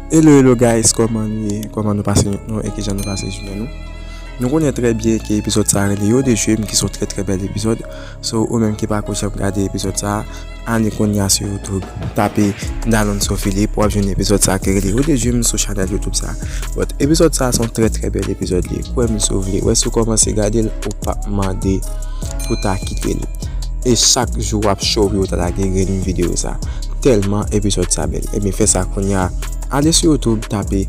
Hello hello guys koman nou ye koman nou pase nwit nou e kijan nou pase jounen nou nou konnen trè byen ke epizòd sa rele yo de jwem ki son trè trè bèl epizòd so ou menm ki pako janm gade epizòd sa ale konnya sou youtube tape Dalonso Philippe wap jwenn epizòd sa ki rele yo de jwem sou chanèl youtube sa but epizòd sa son trè trè bèl epizòd li kwèm si w vle wè si w kòmanse gade l ou pap mande pou ta kite l. E chak jou wap show wi ou ta lage grenn video sa telman episode sa bel ebyen fè sa kounya ale sou youtube tape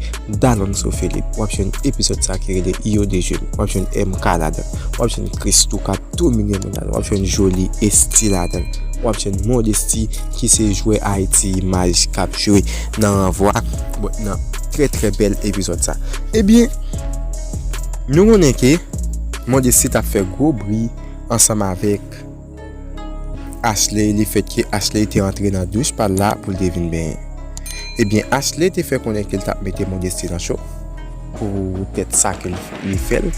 Dalonso Philippe wap jwenn episode sa ki rele Yo de je wap jwenn MK ladanl wap jwenn Christoo kap domine moun ladanl wap jwenn Joly Esthie ladanl wap jwenn Modesty ki se jwè Haïti image kap jwe nan ranvwa bon nan trè trè bel episode sa ebyen nou konnen ke Modesty tap fè gwo bri. ansanm avèk Ashley le fèt ke Ashley te antre nan douch pa l la pou l te vin benyen. Ebyen Ashley te fè konnen ke l t ap mete Modesty nan cho poutèt sa ke li fè l.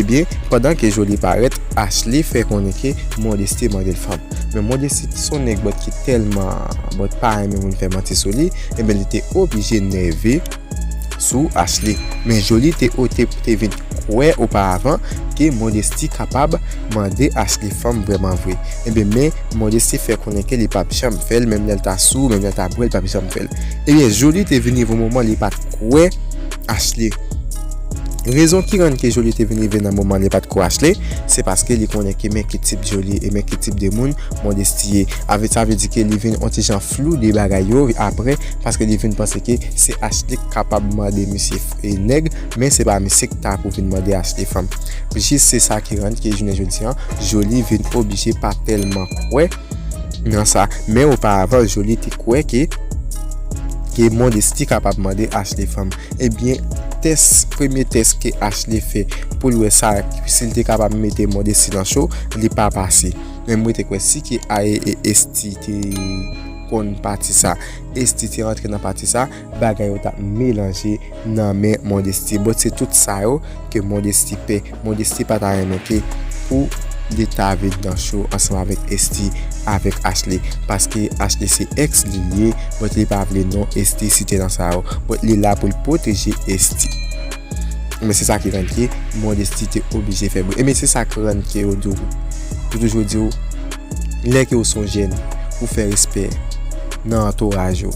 Ebyen pandan ke Joly parèt, Ashley fè konnen ke Modesty mande l fanm. Men Modesty ki s on nèg bòt ki tèlman bòt pa renmen moun fè manti sou li, ebyen li te oblije nève. sou Ashley, men Joly te ote pou te vin kwè oparavan ke Modesty kapab mande Ashley fanm vrèman vre. Ebyen men Modesty fè konnen ke li pap janm fèl menm lèl ta sou, menm lèl ta bwè li pap janm fèl. Ebyen Joly te vin rive yon moman li pat kwè Ashley. Rezon ki rann ke Joly te vin rive nan moman li pat kwè Ashley, se paske li konnen ke men ki tip Joly e men ki tip de moun Modesty ye. Avè sa vle di ke li vin yon ti jan flou de bagay yo aprè paske li vin panse ke se Ashley k kapab mande misye nèg men se pa misye k ta pou vin mande Ashley fanm jis se sa ki rann ke jounen jodi an Joly vin oblije pa tèlman kwè nan sa men oparavan Joly te kwè ke ke Modesty kapab mande Ashley fanm ebyen tès premye tès ke Ashley fè pou l wè sa si l te kapab mete Modesty nan cho li pa pase. Men mwen te kwè si ke Aye e Esthi te konn pati sa, Esthi te rantre nan pati sa, bagay yo tap melanje nan men Mondesty. Bon se tout sa yo ke Mondesty pè. Mondesty pa ta renmen ke pou li ta vin nan show ansanm avèk Esthi avèk Ashley. Paske Ashley se ex li li ye, but li pa vle non Esthi site nan sa yo. But li la pou l pwoteje Esthi. Ebyen se sa ki rann ke modesti te oblije fè bri. Ebyen se sa ki rann ke yo diw, yo toujou diw, lè ke ou son jèn, ou fè respè nan antouraj ou.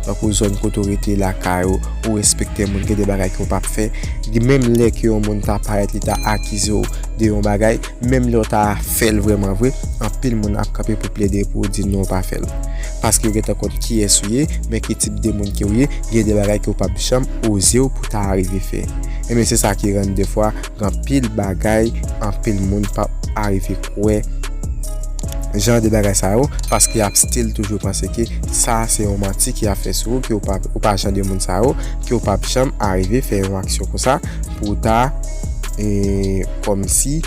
Tankou zòn kote ou rete, lakay ou, ou respekte moun, gen de bagay ke ou pap fè. Menm lè ke yon moun ta parèt li ta akize ou de yon bagay. Menm lè w ta fè l vrèman vre, anpil moun ap kanpe pou plede pou w di non w pa fè l. Paske yo gentan konn kiyès ou ye, men ki tip de moun ke w ye, gen de bagay ke w pap janm oze w pou w ta arive fè. Enben se sa ki rann defwa gen anpil bagay anpil moun pap arive kwè jan de bagay sa yo, paske y ap still toujou panse ke sa a se yon manti ke y ap fè sou ou, ke w pa jan de moun sa yo, ke w pap janm arive fè yon aksyon konsa. pou w ta e kòm si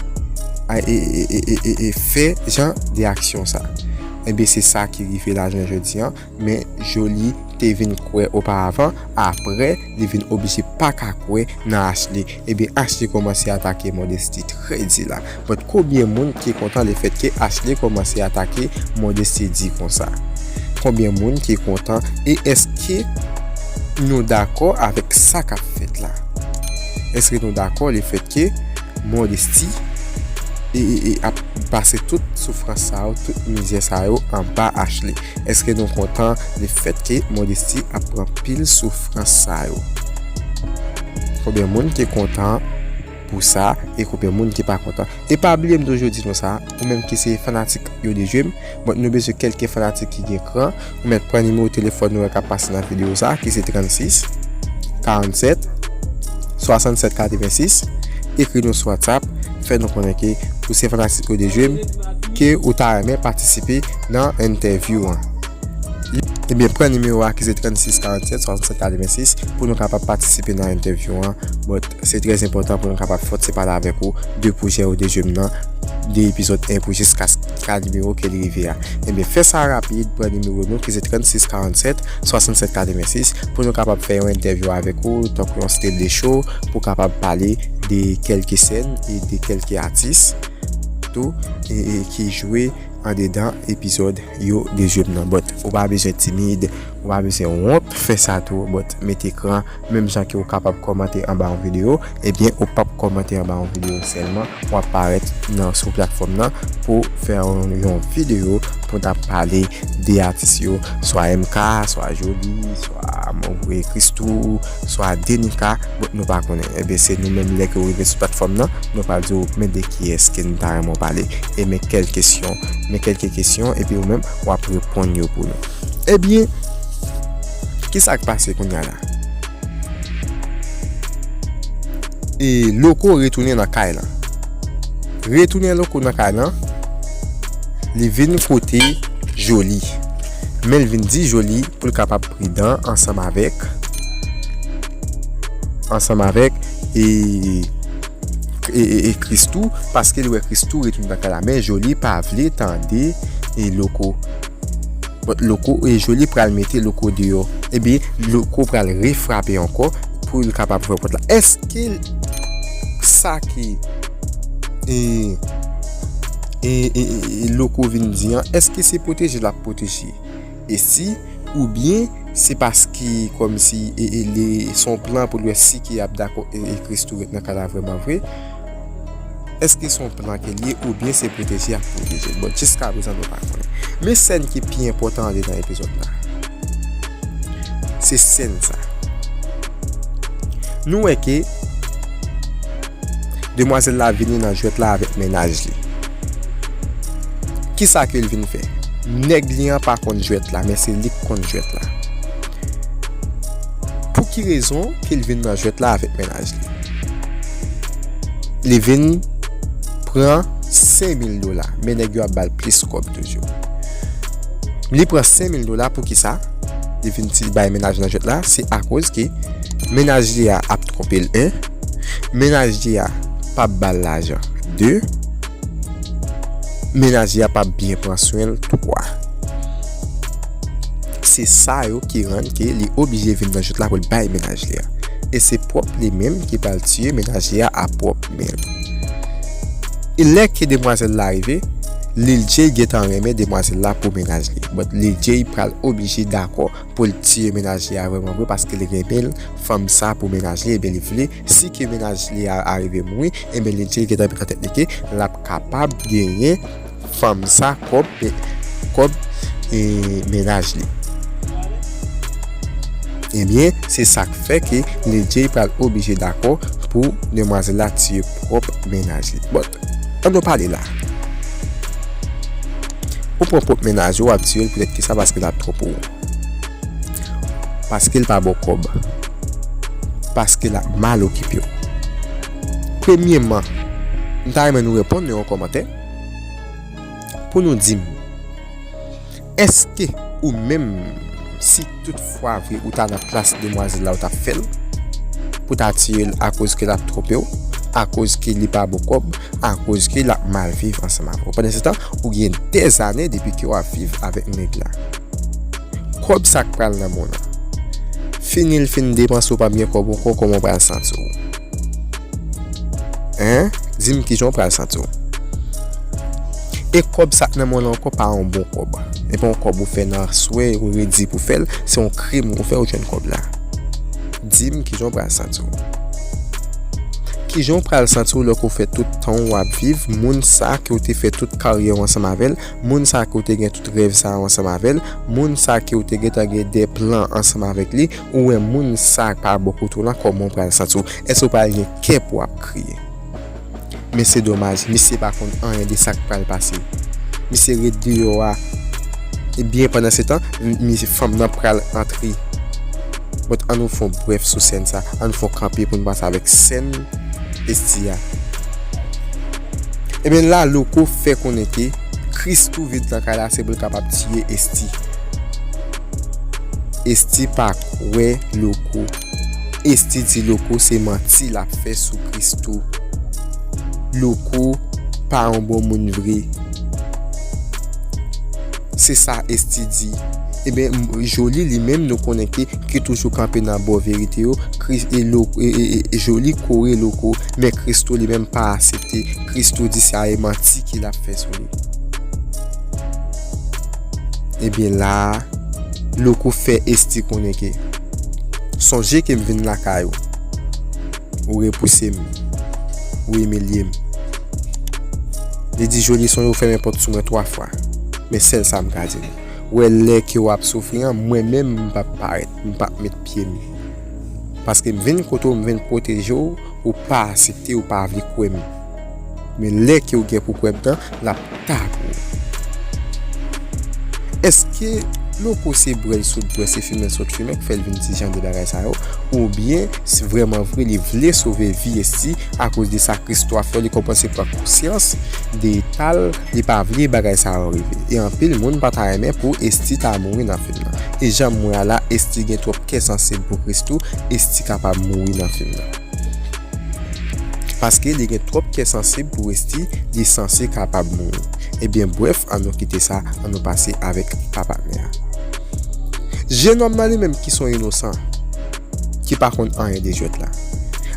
e fè jan de aksyon sa enbe se sa ki rive la jounen jodi an men Joly te vin kwè oparavan apre li vin oblije pa ka kwè nan Ashley enbe Ashley kòmanse atake Modesty trè di la. but kobyen moun ki kontan le fèt ke Ashley komanse atake Mondesty D konsa? Konbyen moun ki kontan e eske nou dakò avèk sa kap fèt la? Eske nou dakò le fèt ke Mondesty ap pase tout soufrans sa yo, tout mizè sa yo anba Ashley? Eske nou kontan le fèt ke Mondesty ap pran pil soufrans sa yo? Konbyen moun ki kontan Pou sa e konbyen moun ki pa kontan. E pa bliye m toujou di nou sa, ou menm ki se fanatik yo dejwe m, bon nou bezwen kelke fanatik ki gen kran, ou mèt pran nimewo telefòn nou an kap pase nan videyo sa ki se 36 47 67 86 ekri nou sou whatsapp fè nou konnen ke ou se fanatik yo dejwe m ke ou ta renmen patisipe nan entèvyou an. Ebyen pran nimewo a ki se 36 47 67 86 pou nou kapab patisipe nan entèvyou an. Se trè enpòtan pou mwen kapab fòt se pale avèk ou de pwojè ou de jwem nan de epizòd 1 pou jiskas ka nimewo ke li rive a. Ebyen fè sa rapid pran nimewo nou ki se 36 47 67 86 pou nou kapab fè yon entèvyou avèk ou tankou yon stele show pou kapab pale de kèlke sèn e de kèlke atis tou e ki jwe andedan epizòd yo de jwem nan but ou pa bezwen timid ou pa bezwen wont fè sa tou but mete kran Menm jan ke ou kapab kòmante anba yon video, ebyen ou pap kòmante anba yon video sèlman, wap parèt nan sou platfòm nan pou fè yon video pou ta pale de atis yo, swa MK, swa Joly, swa Monvue Christoo, swa Denica, bon nou pa konnen. Ebyen se nou menm lè ke ou rive sou platfòm nan, nou pral di ou men de kiyès ke nou ta renmen ou pale, e men kèl kesyon, men kèlke kesyon epi ou menm wap reponn yo pou nou. Ebyen, ki sa k pase kounya la? E Loko retounen nan kay lan. Retounen Loko nan kay lan, li vin kote Joli. Men l vin di Joli pou l kapab pridan ansanm avèk, ansanm avèk e, e Christoo paske l wè Christoo retounen nan kay la. Men Joli pa vle tande e Loko. Loko e Joly pral mete Loko deyò. Ebyen, Loko pral refrape ankò pou l kapab fè pòt la. Eske sa ki e Loko vin di an, eske se pwoteje l ap pwoteje Esi oubyen se paske kòmsi e li son plan pou l wè si ki ap dakò e Christoo ret nan kay la vrèmanvre? Eske son plan ke l ye oubyen se pwoteje ap pwoteje l bon jiska prezan nou pa konnen men sèn ki pi enpòtan anlè nan epizòd la se sèn sa nou wè ke demwazèl la vini nan jwèt la avèk mennaj li kisa ke l vin fè nèg li an pa konn jwèt la men se li ki konn jwèt la pou ki rezon ke l vin nan jwèt la avèk mennaj li. paj li. Li vin pran 5000 dola. Men nèg yo ap bal plis kòb toujou. Li pran 5000 dola pou ki sa? Li vin ti bay menaj lan jwèt la. Se akoz ke menaj li a ap twonpe l 1. Menaj li a pap bal lajan 2. Menaj li a pap byen pran swen l 3. Se sa yo ki rann ke li oblije vin nan jwèt la pou l bay menaj li a. e se pwòp li menm ki pral tiye menaje a a pwòp men l. E lè ke demwazèl la rive, Lil Jay gentan renmen demwazèl la pou mennaj li, but Lil Jay pral oblije dakò pou l tiye menaje a vrèman vre paske li renmen fanm sa pou mennaj li ebyen li vle si ke mennaj li a arive mouri ebyen Lil Jay gentan met nan tèt li ke l ap kapab genyen Fanm sa kob kob mennaj li. Ebyen se sak fè ke Lil Jay pral oblije dakò pou demwazèl la tiye pwòp mennaj li but an nou pale la ou pran pwòp mennaj ou wap tiyel poutèt kisa paske lap twò pou ou paskel pa baw kòb paske lap mal okipew premyeman mta renmen nou reponn nan yon kòmantè. pou nou di m èske ou menm si tout fwa vre ou ta nan plas demwazèl la ou tap fèl pou ta tire l akoz ke lap twonpe w akoz ke li pa bon kòb akoz ke lap mal viv ansanm avè w pandan se tan ou gen dè zane depi ke wap viv avèk nèg la kòb sa k pral nan men w lan fini l fin depanse w pap gen kòb ankò kòman w pral santi w. Hein Di m kijan w pral santi w. E kòb sa k nan men w lan ankò pa yon bon kòb. E pa yon kòb ou fè nan aswè ou redi pou fè l. Se yon krim ou fè ou jwenn kòb la. Di m kijan w pral santi w. Kijan w pral santi w lè ke w fè tout tan w ap viv moun sa ke w te fè tout karyè w ansanm avè l, moun sa ke w te gen tout rèv sa yo ansanm avè l, moun sa ke w te gentan gen de plan ansanm avèk li. ou wè moun sa pa bon kote w lan kòman w pral santi w? Èske w pral gen kè pou w ap kriye? Men se domaj, misye pa konn anyen de sa k pral pase. Misye ret deyò a ebyen pandansetan fanm nan pral antre. But an nou fè yon brèf sou sèn sa, an nou fè yon kanpe pou nou panse avèk sèn Esthi a. Ebyen la Loco fè konnen ke Christoo vin lakay la se pou l kapab tiye Esthi. Esthie pa kwè Loco. Esthie di Loco se manti lap fè sou Christoo. Loco pa yon bon moun vre. Se sa Esthie di. Ebyen Joly li menm nou konnen ke ki toujou kanpe nan bò verite yo. Joly kore Loco. Men Christoo li menm pa asepte. Christoo di se a e manti ki lap fè sou li. Ebyen la a, Louko fè Esthie konnen ke, Sonje ke m vin lakay ou. Ou repouse m. Ou imilye m. Li di Joly sonje ou fèmen pòt sou mwen 3 fwa. Men sèl sa m ka di nou. Ou wè lè ke w ap soufri an, mwen menm m p ap parèt. M p ap met pye m. Paske m vin kote w, m vin pwoteje w, ou pa asepte, ou pa vle kwè m. Men lè ke ou gen pou kwè bdan lap ta pou ou. Eske loco se brèl sot bwè se fimen sot fimen ki fèl vin di jan de bagay sa yo ou byen si vrèman vre li vle sove vi Esthie a koz de sa Christo ap fè li komanse pran konsyans de etal li pa vle bagay sa yo rive e anpil moun pa ta renmen pou Esthie ta mouri nan fim nan e janm wè a la Esthie gen twòp kè sansib pou Christo Esthie kapab mouri nan fim nan. Paske li gen twòp kè sansib pou Westhi li sanse kapab mouri ebyen brèf an nou kite sa an nou pase avèk pa patnè a jenòm nan li menm ki son inosan ki pa konn anyen de jwèt la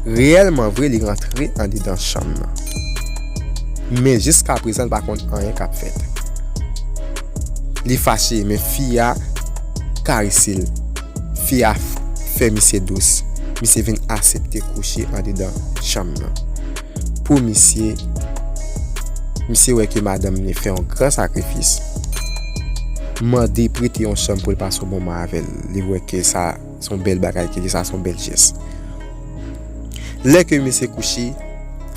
reyèlman vre li rantre andedan chanm nan men jiska prezan li pa konn anyen kap fèt li fache men fi a karese l. Fi a fè misye dous, misye vin asepte kouche andedan chanm nan. Pou misye, misye wè ke madanm li fè yon gran sakrifis. Mande prete yon chanm pou l pase yon moman avè l. Li wè ke sa son bèl bagay ke li, sa son bèl jès. Lè ke misye kouche,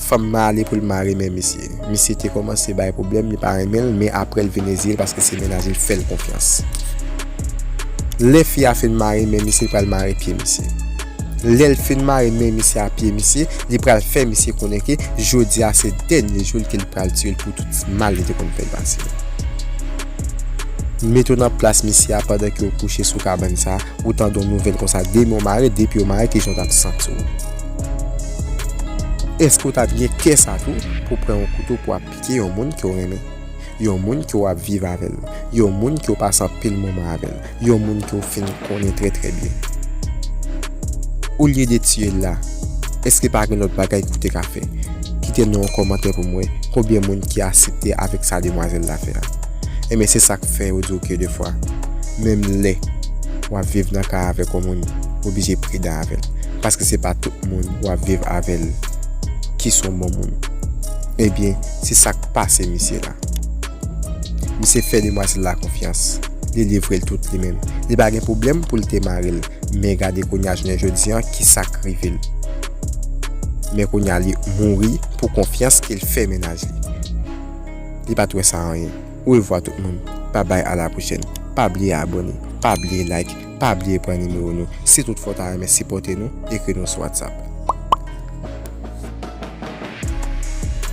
fanm nan ale pou l mare men misye. Misye te kòmanse bay pwoblèm, li pa renmen l, men aprè l vin reziye l paske se mennaj li fè l konfyans. Lè fi a fin mare men misye, li pral mare pye misye. Lè l fin mare men misye a pye misye, li pral fè misye konnen ke jodi a se dènye jou l ke li pral tiye l pou tout mal li te konn fè l pase yo. Mete w nan plas misye a pandan ke w kouche sou kabann sa a. ou tande yon nouvèl konsa demen w mare depi yo mare ki jan w t ap santi w? Èske w t ap gen kè sa tou pou w pran yon kouto pou w ap pike yon moun ke w renmen? Yon moun ke w ap viv avè l? Yon moun ke w pase anpil moman avè l? Yon moun ke w fin konnen trè trè byen? Olye de tiye l la, èske pa gen lòt bagay ke w te ka fè? Kite non w an kòmantè pou m wè konbyen moun ki asepte avèk sa demwazèl la fè a. Enben se sak fè yo diw ke defwa menm lè wap viv nan kay avèk yon moun ou oblije pridan avèl paske se pa tout moun wap viv avèl ki son bon moun enben se sak pase misye la misye fè demwazèl la konfyans li livrel tout li menm li pa gen pwoblèm poul te maril men gade kounya jounen jodi an ki sak rivel men kounya li mouri pou konfyans kel fè mennaj li. li pat wè sa anyen orevwa tout moun bye bye a la prochèn pa bliye abòne pa bliye like pa bliye pran nimewo nou si tout fwa ou ta renmen sipòte nou ekri nou sou whatsapp.